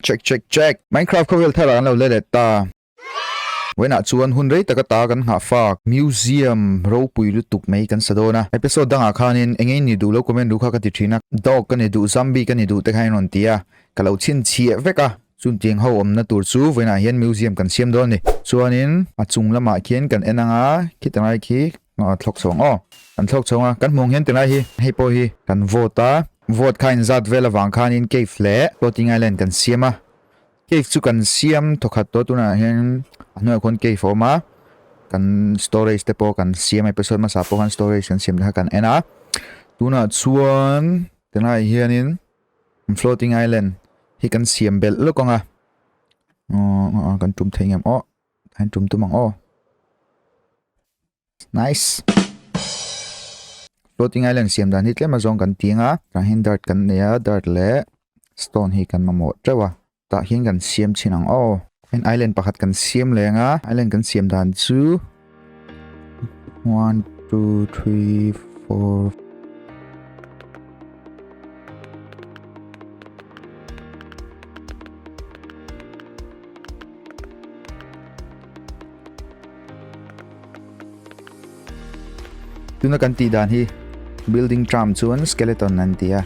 Check check check! Minecraft khawvel thar ah kan lo la let ta. Wen ah chuan hun rei taka ta kan nghah fak. Museum ropui lutuk mai kan sa dawn a. Episode dang ah khanin engei ni duh lo comment ru kha ka ti thin a. Dog ka ni duh zombie ka ni duh te khain rawn ti a. Ka lo chhin chhiah vek a. Chun tiang ho awm na tur chu wen ah hian museum kan siam dawn a ni. Chuan in a chung lam ah khian kan en ang a. Khitah lai khi Aw thlawk chhawng aw kan thlawk chhawng a kan hmuang hian tilai hi hei pawh hi kan vote a vote kha inzat vel avang khanin cave leh floating island kan siam a cave chu kan siam thaw khat tawh tunah hian a hnuaiah khawn cave a awm a kan storage te pawh kan siam episode hmasa pawh khan storage kan siam te kha kan en a tunah chuan tilai hianin floating island hi kan siam belh lawk ang a kan tum thei ngam awh An tum tum ang aw. Nice. Floating Island siam dan hi tlem a zong kan tiang a. Kan hin dart kan nei a, dart le stone hi kan mamawh treuh a. Tah hian kan siam chin ang aw. An island pakhat kan siam leng a. Island kan siam dan chu One, two, three, four. Tuna kan ti dan hi building tram chuan skeleton an tia.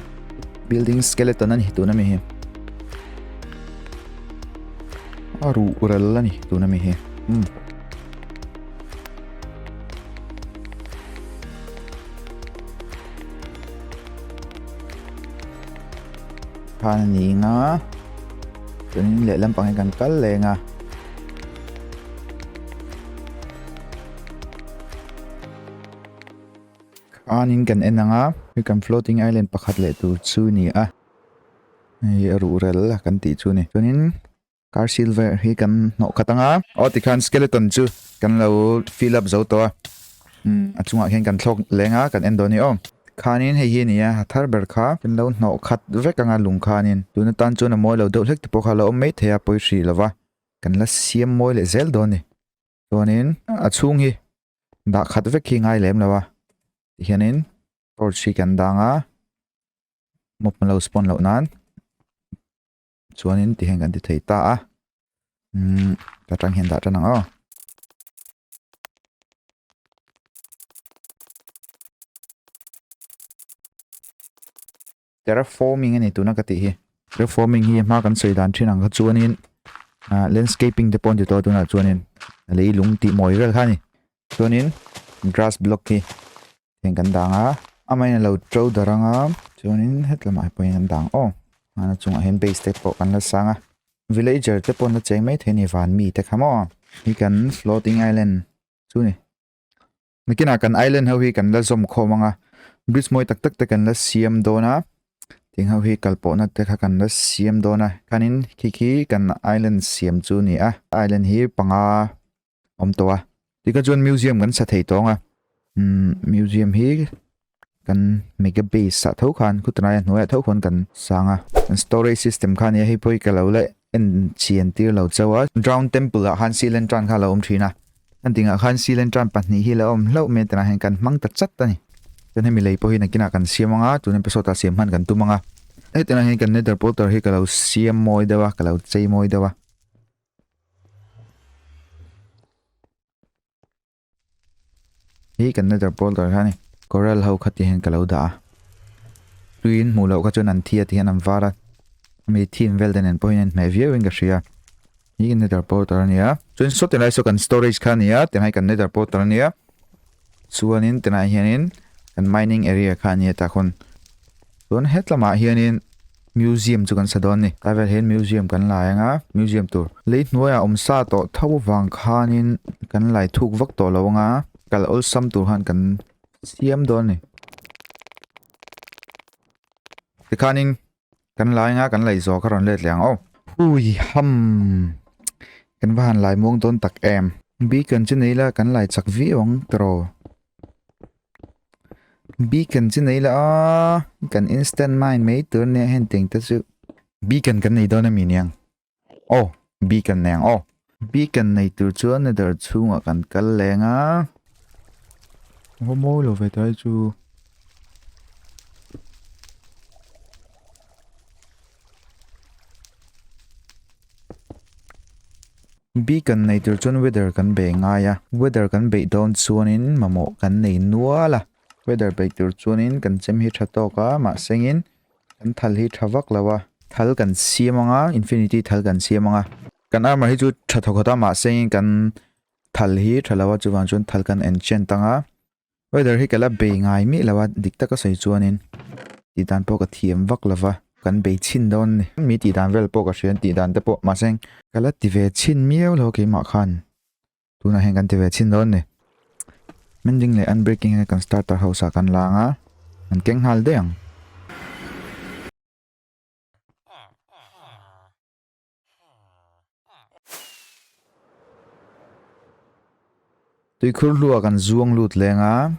Building skeleton an hi tuna mi hi. Aru rel ani tuna mi hi. Hmm. khan a ni nga chuan leh lampang hi kan kal leng a khanin kan en anga hei kan floating island pakhat leh tur chu ni a hei a ruh rel a kan tih chu ni chuanin Car silver hi kan hnawh khat anga aw tikhan skeleton chu kan lo fill up zo tawh a umm a chungah hian kan thlawk leng a kan en dawn ni awm khanin hei hi a ni a a thar ber kha kan lo hnawh khat vek anga lung khanin tuna tan chuan a mawi lo deuh hlek te pawh kha a lo awm mai thei a pawi hrih lova kan la siam mawi leh zel dawn ni chuanin a chhung hi dah khat vek hi ngai lem lo a tih hianin torch hi kan dang a mop malo spawn loh nan. Chuanin ti hian kan ti thei ta a. Umm ka tang hian dah tan ang aw. Terraforming ani tuna ka ti hi. Terraforming hi hma kan sawi dan thin ang kha chuanin landscaping te pawh ti to tuna chuanin lei lung ti mawi rel kha ni. Chuanin grass block hi heng kan dang a. Amaherawhin a lo to darh ang a. Chuanin hetlamah hi pawhin kan dang aw. Hman a chungah hian base te pawh kan la sang a. Villager te pawh na cheng maithei a ni van mi te kha maw? Hi kan floating island chu ni. Nakinah kan island ho hi kan la zawm khawm ang a. Bridge mawi tak tak te kan la siam dawn a. Tiang ho hi kal pawhna te kha kan la siam dawn a. Khanin khi khi kan island siam chu ni a. Island hi panga awm tawh a tikah chuan museum kan sa thei tawng a umm museum hi kan mega base ah tho khan khutanaia hnuaiah tho khan kan sang a an storage system kha nia hei pawh hi ka lo la en chhi en tir lo chauh a drown temple ah khan silentron kha a lo awm thin a heng ting ah khan silentron pahnih hi la awm hlauh mai a ti ang a heng kan hmang ta chat a ni chuan hemi lei pawh hi nakin ah kan siam ang a tun episode ah siam khan kan tum ang a heti ah hian kan nether portal hi ka lo siam mawi deuh a ka lo chei mawi deuh a. Hi kan nether portal kha ni coral ho kha ti hian ka lo dah a tuin hmuh loh kha chuan an thi a ti hian an var a mi thim vel ten en pawh hian hmeh viau in ka hria hi nether portal ania chuan saw tilai saw kan storage kha ania tilai kan nether portal ania chuanin tilai hianin kan mining area kha ania ta khawn chuan hetlamah hianin Museum chu kan sa dawn a ni. Ka vel hian Museum kan la eng a, Museum tur. Lei hnuaiah awm sa tawh tho avang khanin kan lai thuk vak tawh lo ang a, kal awlsam tur khan kan siam dawn a ni. Tikhanin kan la eng a, kan lai zawk a rawn let leh ang aw. Hui hamm! Kan va han lai muang dawn tak em! Biakan chu nei la kan lai chak viau ang tiraw. beacon chi nei la a kan instant mine mai tur ne hen teng ta chu beacon kan nei dona mi niang oh beacon neng oh beacon nei tur chu ne dar chunga kan kal lenga homo lo ve tai chu Bi kan nei tir chuan weather kan bei ngai a, weather kan beih dawn chuanin mamawh kan nei nual a. Weather beih tur chuanin kan chem hi tha tawk a, mahsengin kan thal hi tha vak lo a. Thal kan siam anga, infinity thal kan siam anga. Kan armor hi chu tha thawkhat a, mahsengin kan thal hi tha lo a, chuvang chuan thal kan enchant anga. Weather hi ka la bei ngai miah lo a, dik taka sawi chuanin tih dan pawh ka thiam vak lo va, kan bei chhin dawn a ni. Hemi tih dan vel pawh ka hria, tih dan te pawh mahse ka la ti ve chhin miau lo keimah khan tunah hian kan ti ve chhin dawn a ni. Mending leh unbreaking hi kan starter house ah kan la ang a, kan keng nghal daih ang. Tuikhur hlua kan zuang lut leng a,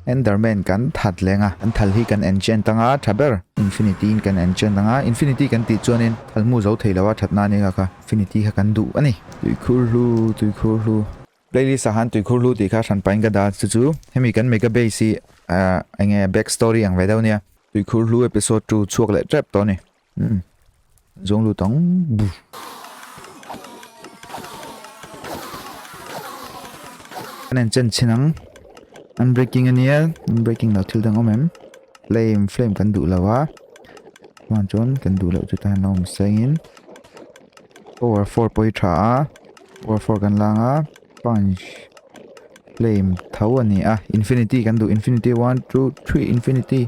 Enderman kan that leng a, an thal hi kan enchant anga tha ber, Infinity in kan enchant anga, Infinity kan tih chuanin thal hmu zo thei loa that nan eka kha Infinity kha kan duh a ni. Tuikhur hlu, tuikhur hlu. Playlist ah han tuikhur hlu tih kha hran pahin ka dah a, chu chu hemi kan mega base hi enge back story ang ve deuh nia. Tuikhur hlu episode two chhuak leh tep tawh a ni. Mm. Zong lu tang. Bu. Kanen chen chen ang. Unbreaking ania. Unbreaking lo thil dang omem. Flame, flame kan du lo a. Wan chon kan du lo chu ta lo mi sengin. Power 4 poi tha a. Power 4 kan lang a. Punch. Flame thau ania. Infinity kan du. Infinity 1, 2, 3, Infinity.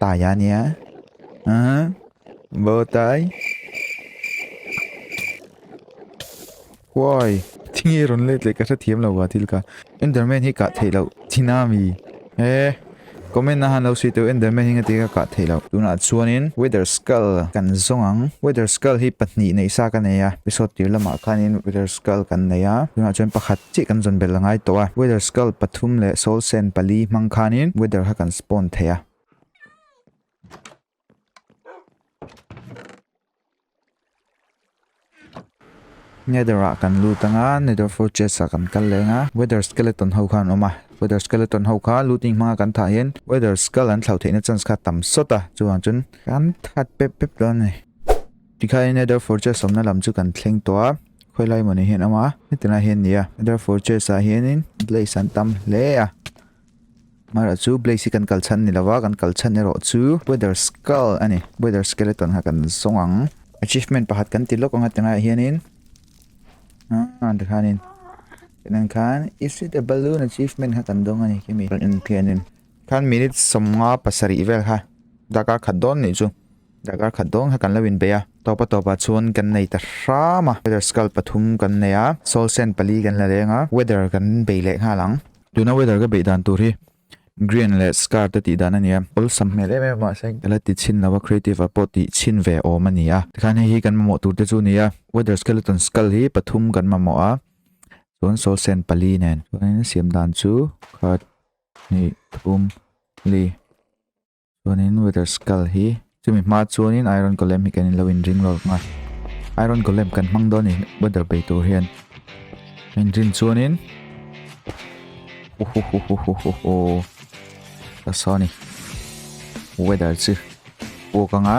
Tah hian nia. Aha. Bo tai. Woi. Thingi run let le ka sa thiam lo wa thil ka. Enderman hi ka thei lo. China mi. Eh. Comment na han lo si tu Enderman hi ngati ka ka thei lo. Tuna chuanin Weather Skull kan zong ang. Weather Skull hi pahnih nei sa ka nei a. Episode tir lamah khanin Weather Skull kan nei a. Tuna chuan pakhat Chiah kan zawn bel a ngai tawh a, weather skull pathum leh soul sand pali hmang khanin weather ha kan spawn thei a. Nether ah kan lut a nga, nether fortress ah kan kal leh ang a, weather skeleton ho khan awm a, weather skeleton ho kha looting hmang a kan thah hian weather skull an thlauh theihna chance kha tam sawt a, chuan chun kan that pep pep dawn a ni. Tikhain Netherford Chase awmna lam chu kan thleng tawh a, Khawihlai Mawni hian a hma a, hetilai hian nia, Netherford Chase ah hianin Blaze an tam hle a, mahla chu Blaze hi kan kal chhan ni lova, kan kal chhan erawh chu Weather Skull a ni, Weather Skeleton kha kan zawng ang. Achievement pakhat kan ti lawk ang hetilaiah hianin aah tikhanin, tiang khan Is it a balloon achievement kha kan dawng a ni khi mi, Eng khianin Khan minute sawmnga pasarih vel kha darkar khat dawn nih chu darkar khat dawn kha kan lo inbei a. Tawpa tawpah chuan kan nei ta hram a. Weather skull pathum kan nei a, soul sand pali kan la leng a, weather kan bei leh nghal ang. Tuna weather ka beih dan tur hi Grian leh Scar te tih dan a ni a. Awlsam hmel em em mahse ka la ti chhin lo a, Creative a pawh tih chhin ve awm a ni a. Tikhan hei hi kan mamawh tur te chu ni a, Weather skeleton skull hi pathum kan mamawh a, chuan soul sand pali nen. Chuan in siam dan chu khat hnih thum li chuanin weather skull hi chumi hma chuanin iron golem hi kan in lo in ring lawk a iron golem kan hmang dawn a ni weather bei tur hian in rin chuanin ohohohohoho ta sa ni weather chu pawk anga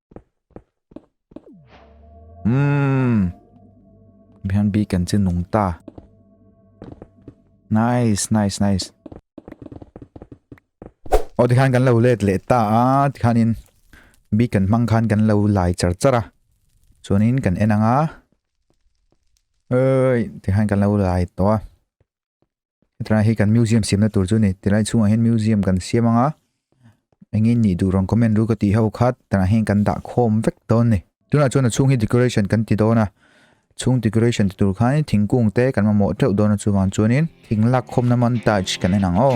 Mmm. Bihan bi kan chin nung ta. Nice, nice, nice. Aw tikhan kan lo let leh ta a tikhanin bi kan mang khan kan lo lai char char a. Chuanin kan enang a. Ơi, tikhan kan lo lai to a. Hetilai hi kan museum siamna tur chu a ni. Tilai chhungah hian museum kan siam anga eng in nih duh rang comment ru ka tih ho khat tanah hian kan dah khawm vek dawn ni. Tunah chuan a chhung hi decoration kan ti dawn a. Chhung decoration ti tur khanin thingkung te kan mamawh teuh dawn a chuvang chuanin thing lak khawmna montage kan en ang aw.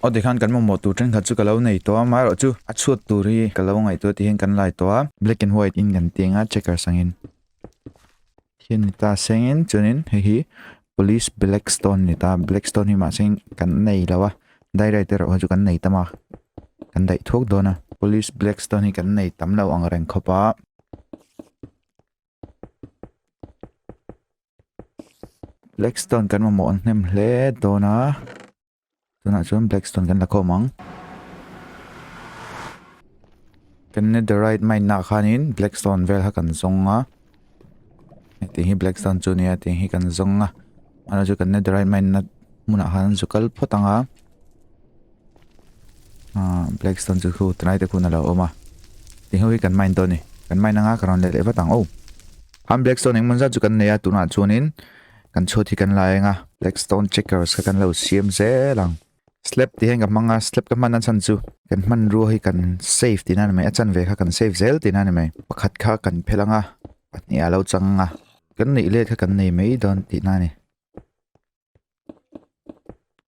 aw tikhan kan mamawh tur thenkhat chu ka lo nei tawh a amaherawh chu a chhuat tur hi ka lo ngaihtuah tih hian kan lai tawh a black and white in kan tih anga checkers angin thian ni ta sengin chuanin hei hi police black stone ni ta black stone hi mahse kan nei lo a dairaii te rawh chu kan nei tam a kan daih thuak dawn a police black stone hi kan nei tam lo ang reng khawp a. Blackstone kan mamawh an hnem hle dawn a tunah chuan Blackstone kan la khawm ang kan netherite mine na khanin Blackstone vel ha kan zong a heti hi Blackstone chu nia ti hi kan zong a ana chu kan netherite mine na hmunah han zu kal phawt ang a Blackstone chu thu tanai te khun a lo awm a ti ho hi kan mine tawh ni kan mine anga ka rawn leh leh vat ang o han Blackstone engmawni zat chu kan nei a tunah chuanin kan chhuat hi kan la eng a Blackstone checkers kha kan lo siam zel ang slab tih hian ka hmang a slab ka hman a chhan chu kan hman rua hi kan save tihna a ni mai a chan ve kha kan save zel tihna a ni mai pakhat kha kan phel anga pahniha lo chang anga kan neih let kha kan nei mai dawn tihna a ni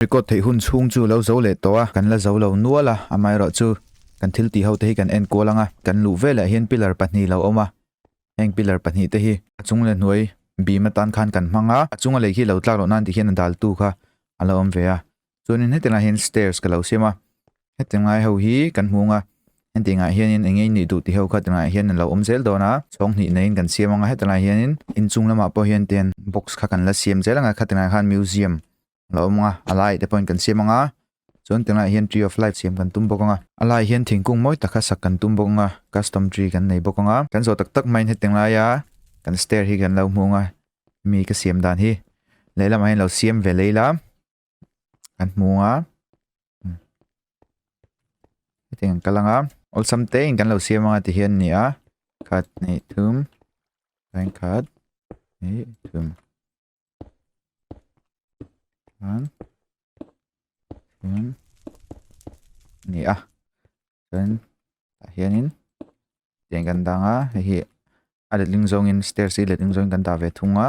Record theih hun chhung chu lo zo leh tawh a, kan la zo lo nual a, amaherawh chu kan thil tih hote hi kan en kual ang a, kan luh velah hian pillar pahnih lo awm a, heng pillar pahnih te hi a chung leh hnuai bim atan khan kan hmang a, a chunga lei khi lo tlak loh nan tih hian a daltu kha a lo awm ve a, chuanin heti lai hian stairs ka lo siam a heti ngai ho hi kan hmung a heti ngai hianin eng nge nih duh tih ho kha ti ngai hian lo awm zel dawn a chhawng hnih neiin kan siam ang a heti lai hianin inchung lamah pawh hian ten box kha kan la siam zel ang a khati ngai khan museum lo awm ang a a lai te pawhin kan siam ang a chuan ti ngai hian tree of life siam kan tum bawk ang a a lai hian thingkung mawi takha sak kan tum bawk ang a custom tree kan nei bawk ang a kan zawh tak tak maiin heti ngai a kan stair hi kan lo hmung a mi ka siam dan hi lehlamah hian lo siam ve lei la. kan hmu a hmm. hetiang kan kalanga awlsam te in kan lo siam anga ti hian ni a khat ni thum line khat ni thum an hian ni a kan ta hianin tiang kan danga hei hi a letling zawngin stairs hi letling zawngin kan ta ve thung a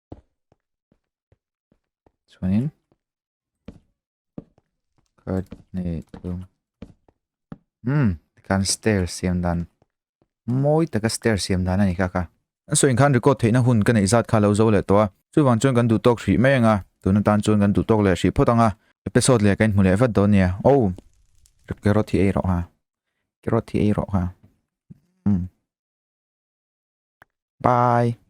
chuanin card nei thum hmm tikhan stair siam dan mawi taka stair siam dan a ni kha kha a sawi khan record theihna hun ka neih zat kha lo zo leh tawh a chuvang chuan kan duh tawk hrih mai anga tun atan chuan kan duh tawk leh hrih phawt anga episode leh kan hmu leh vat dawn nia oh record hi ei rawh ha record hi ei rawh ha hmm bye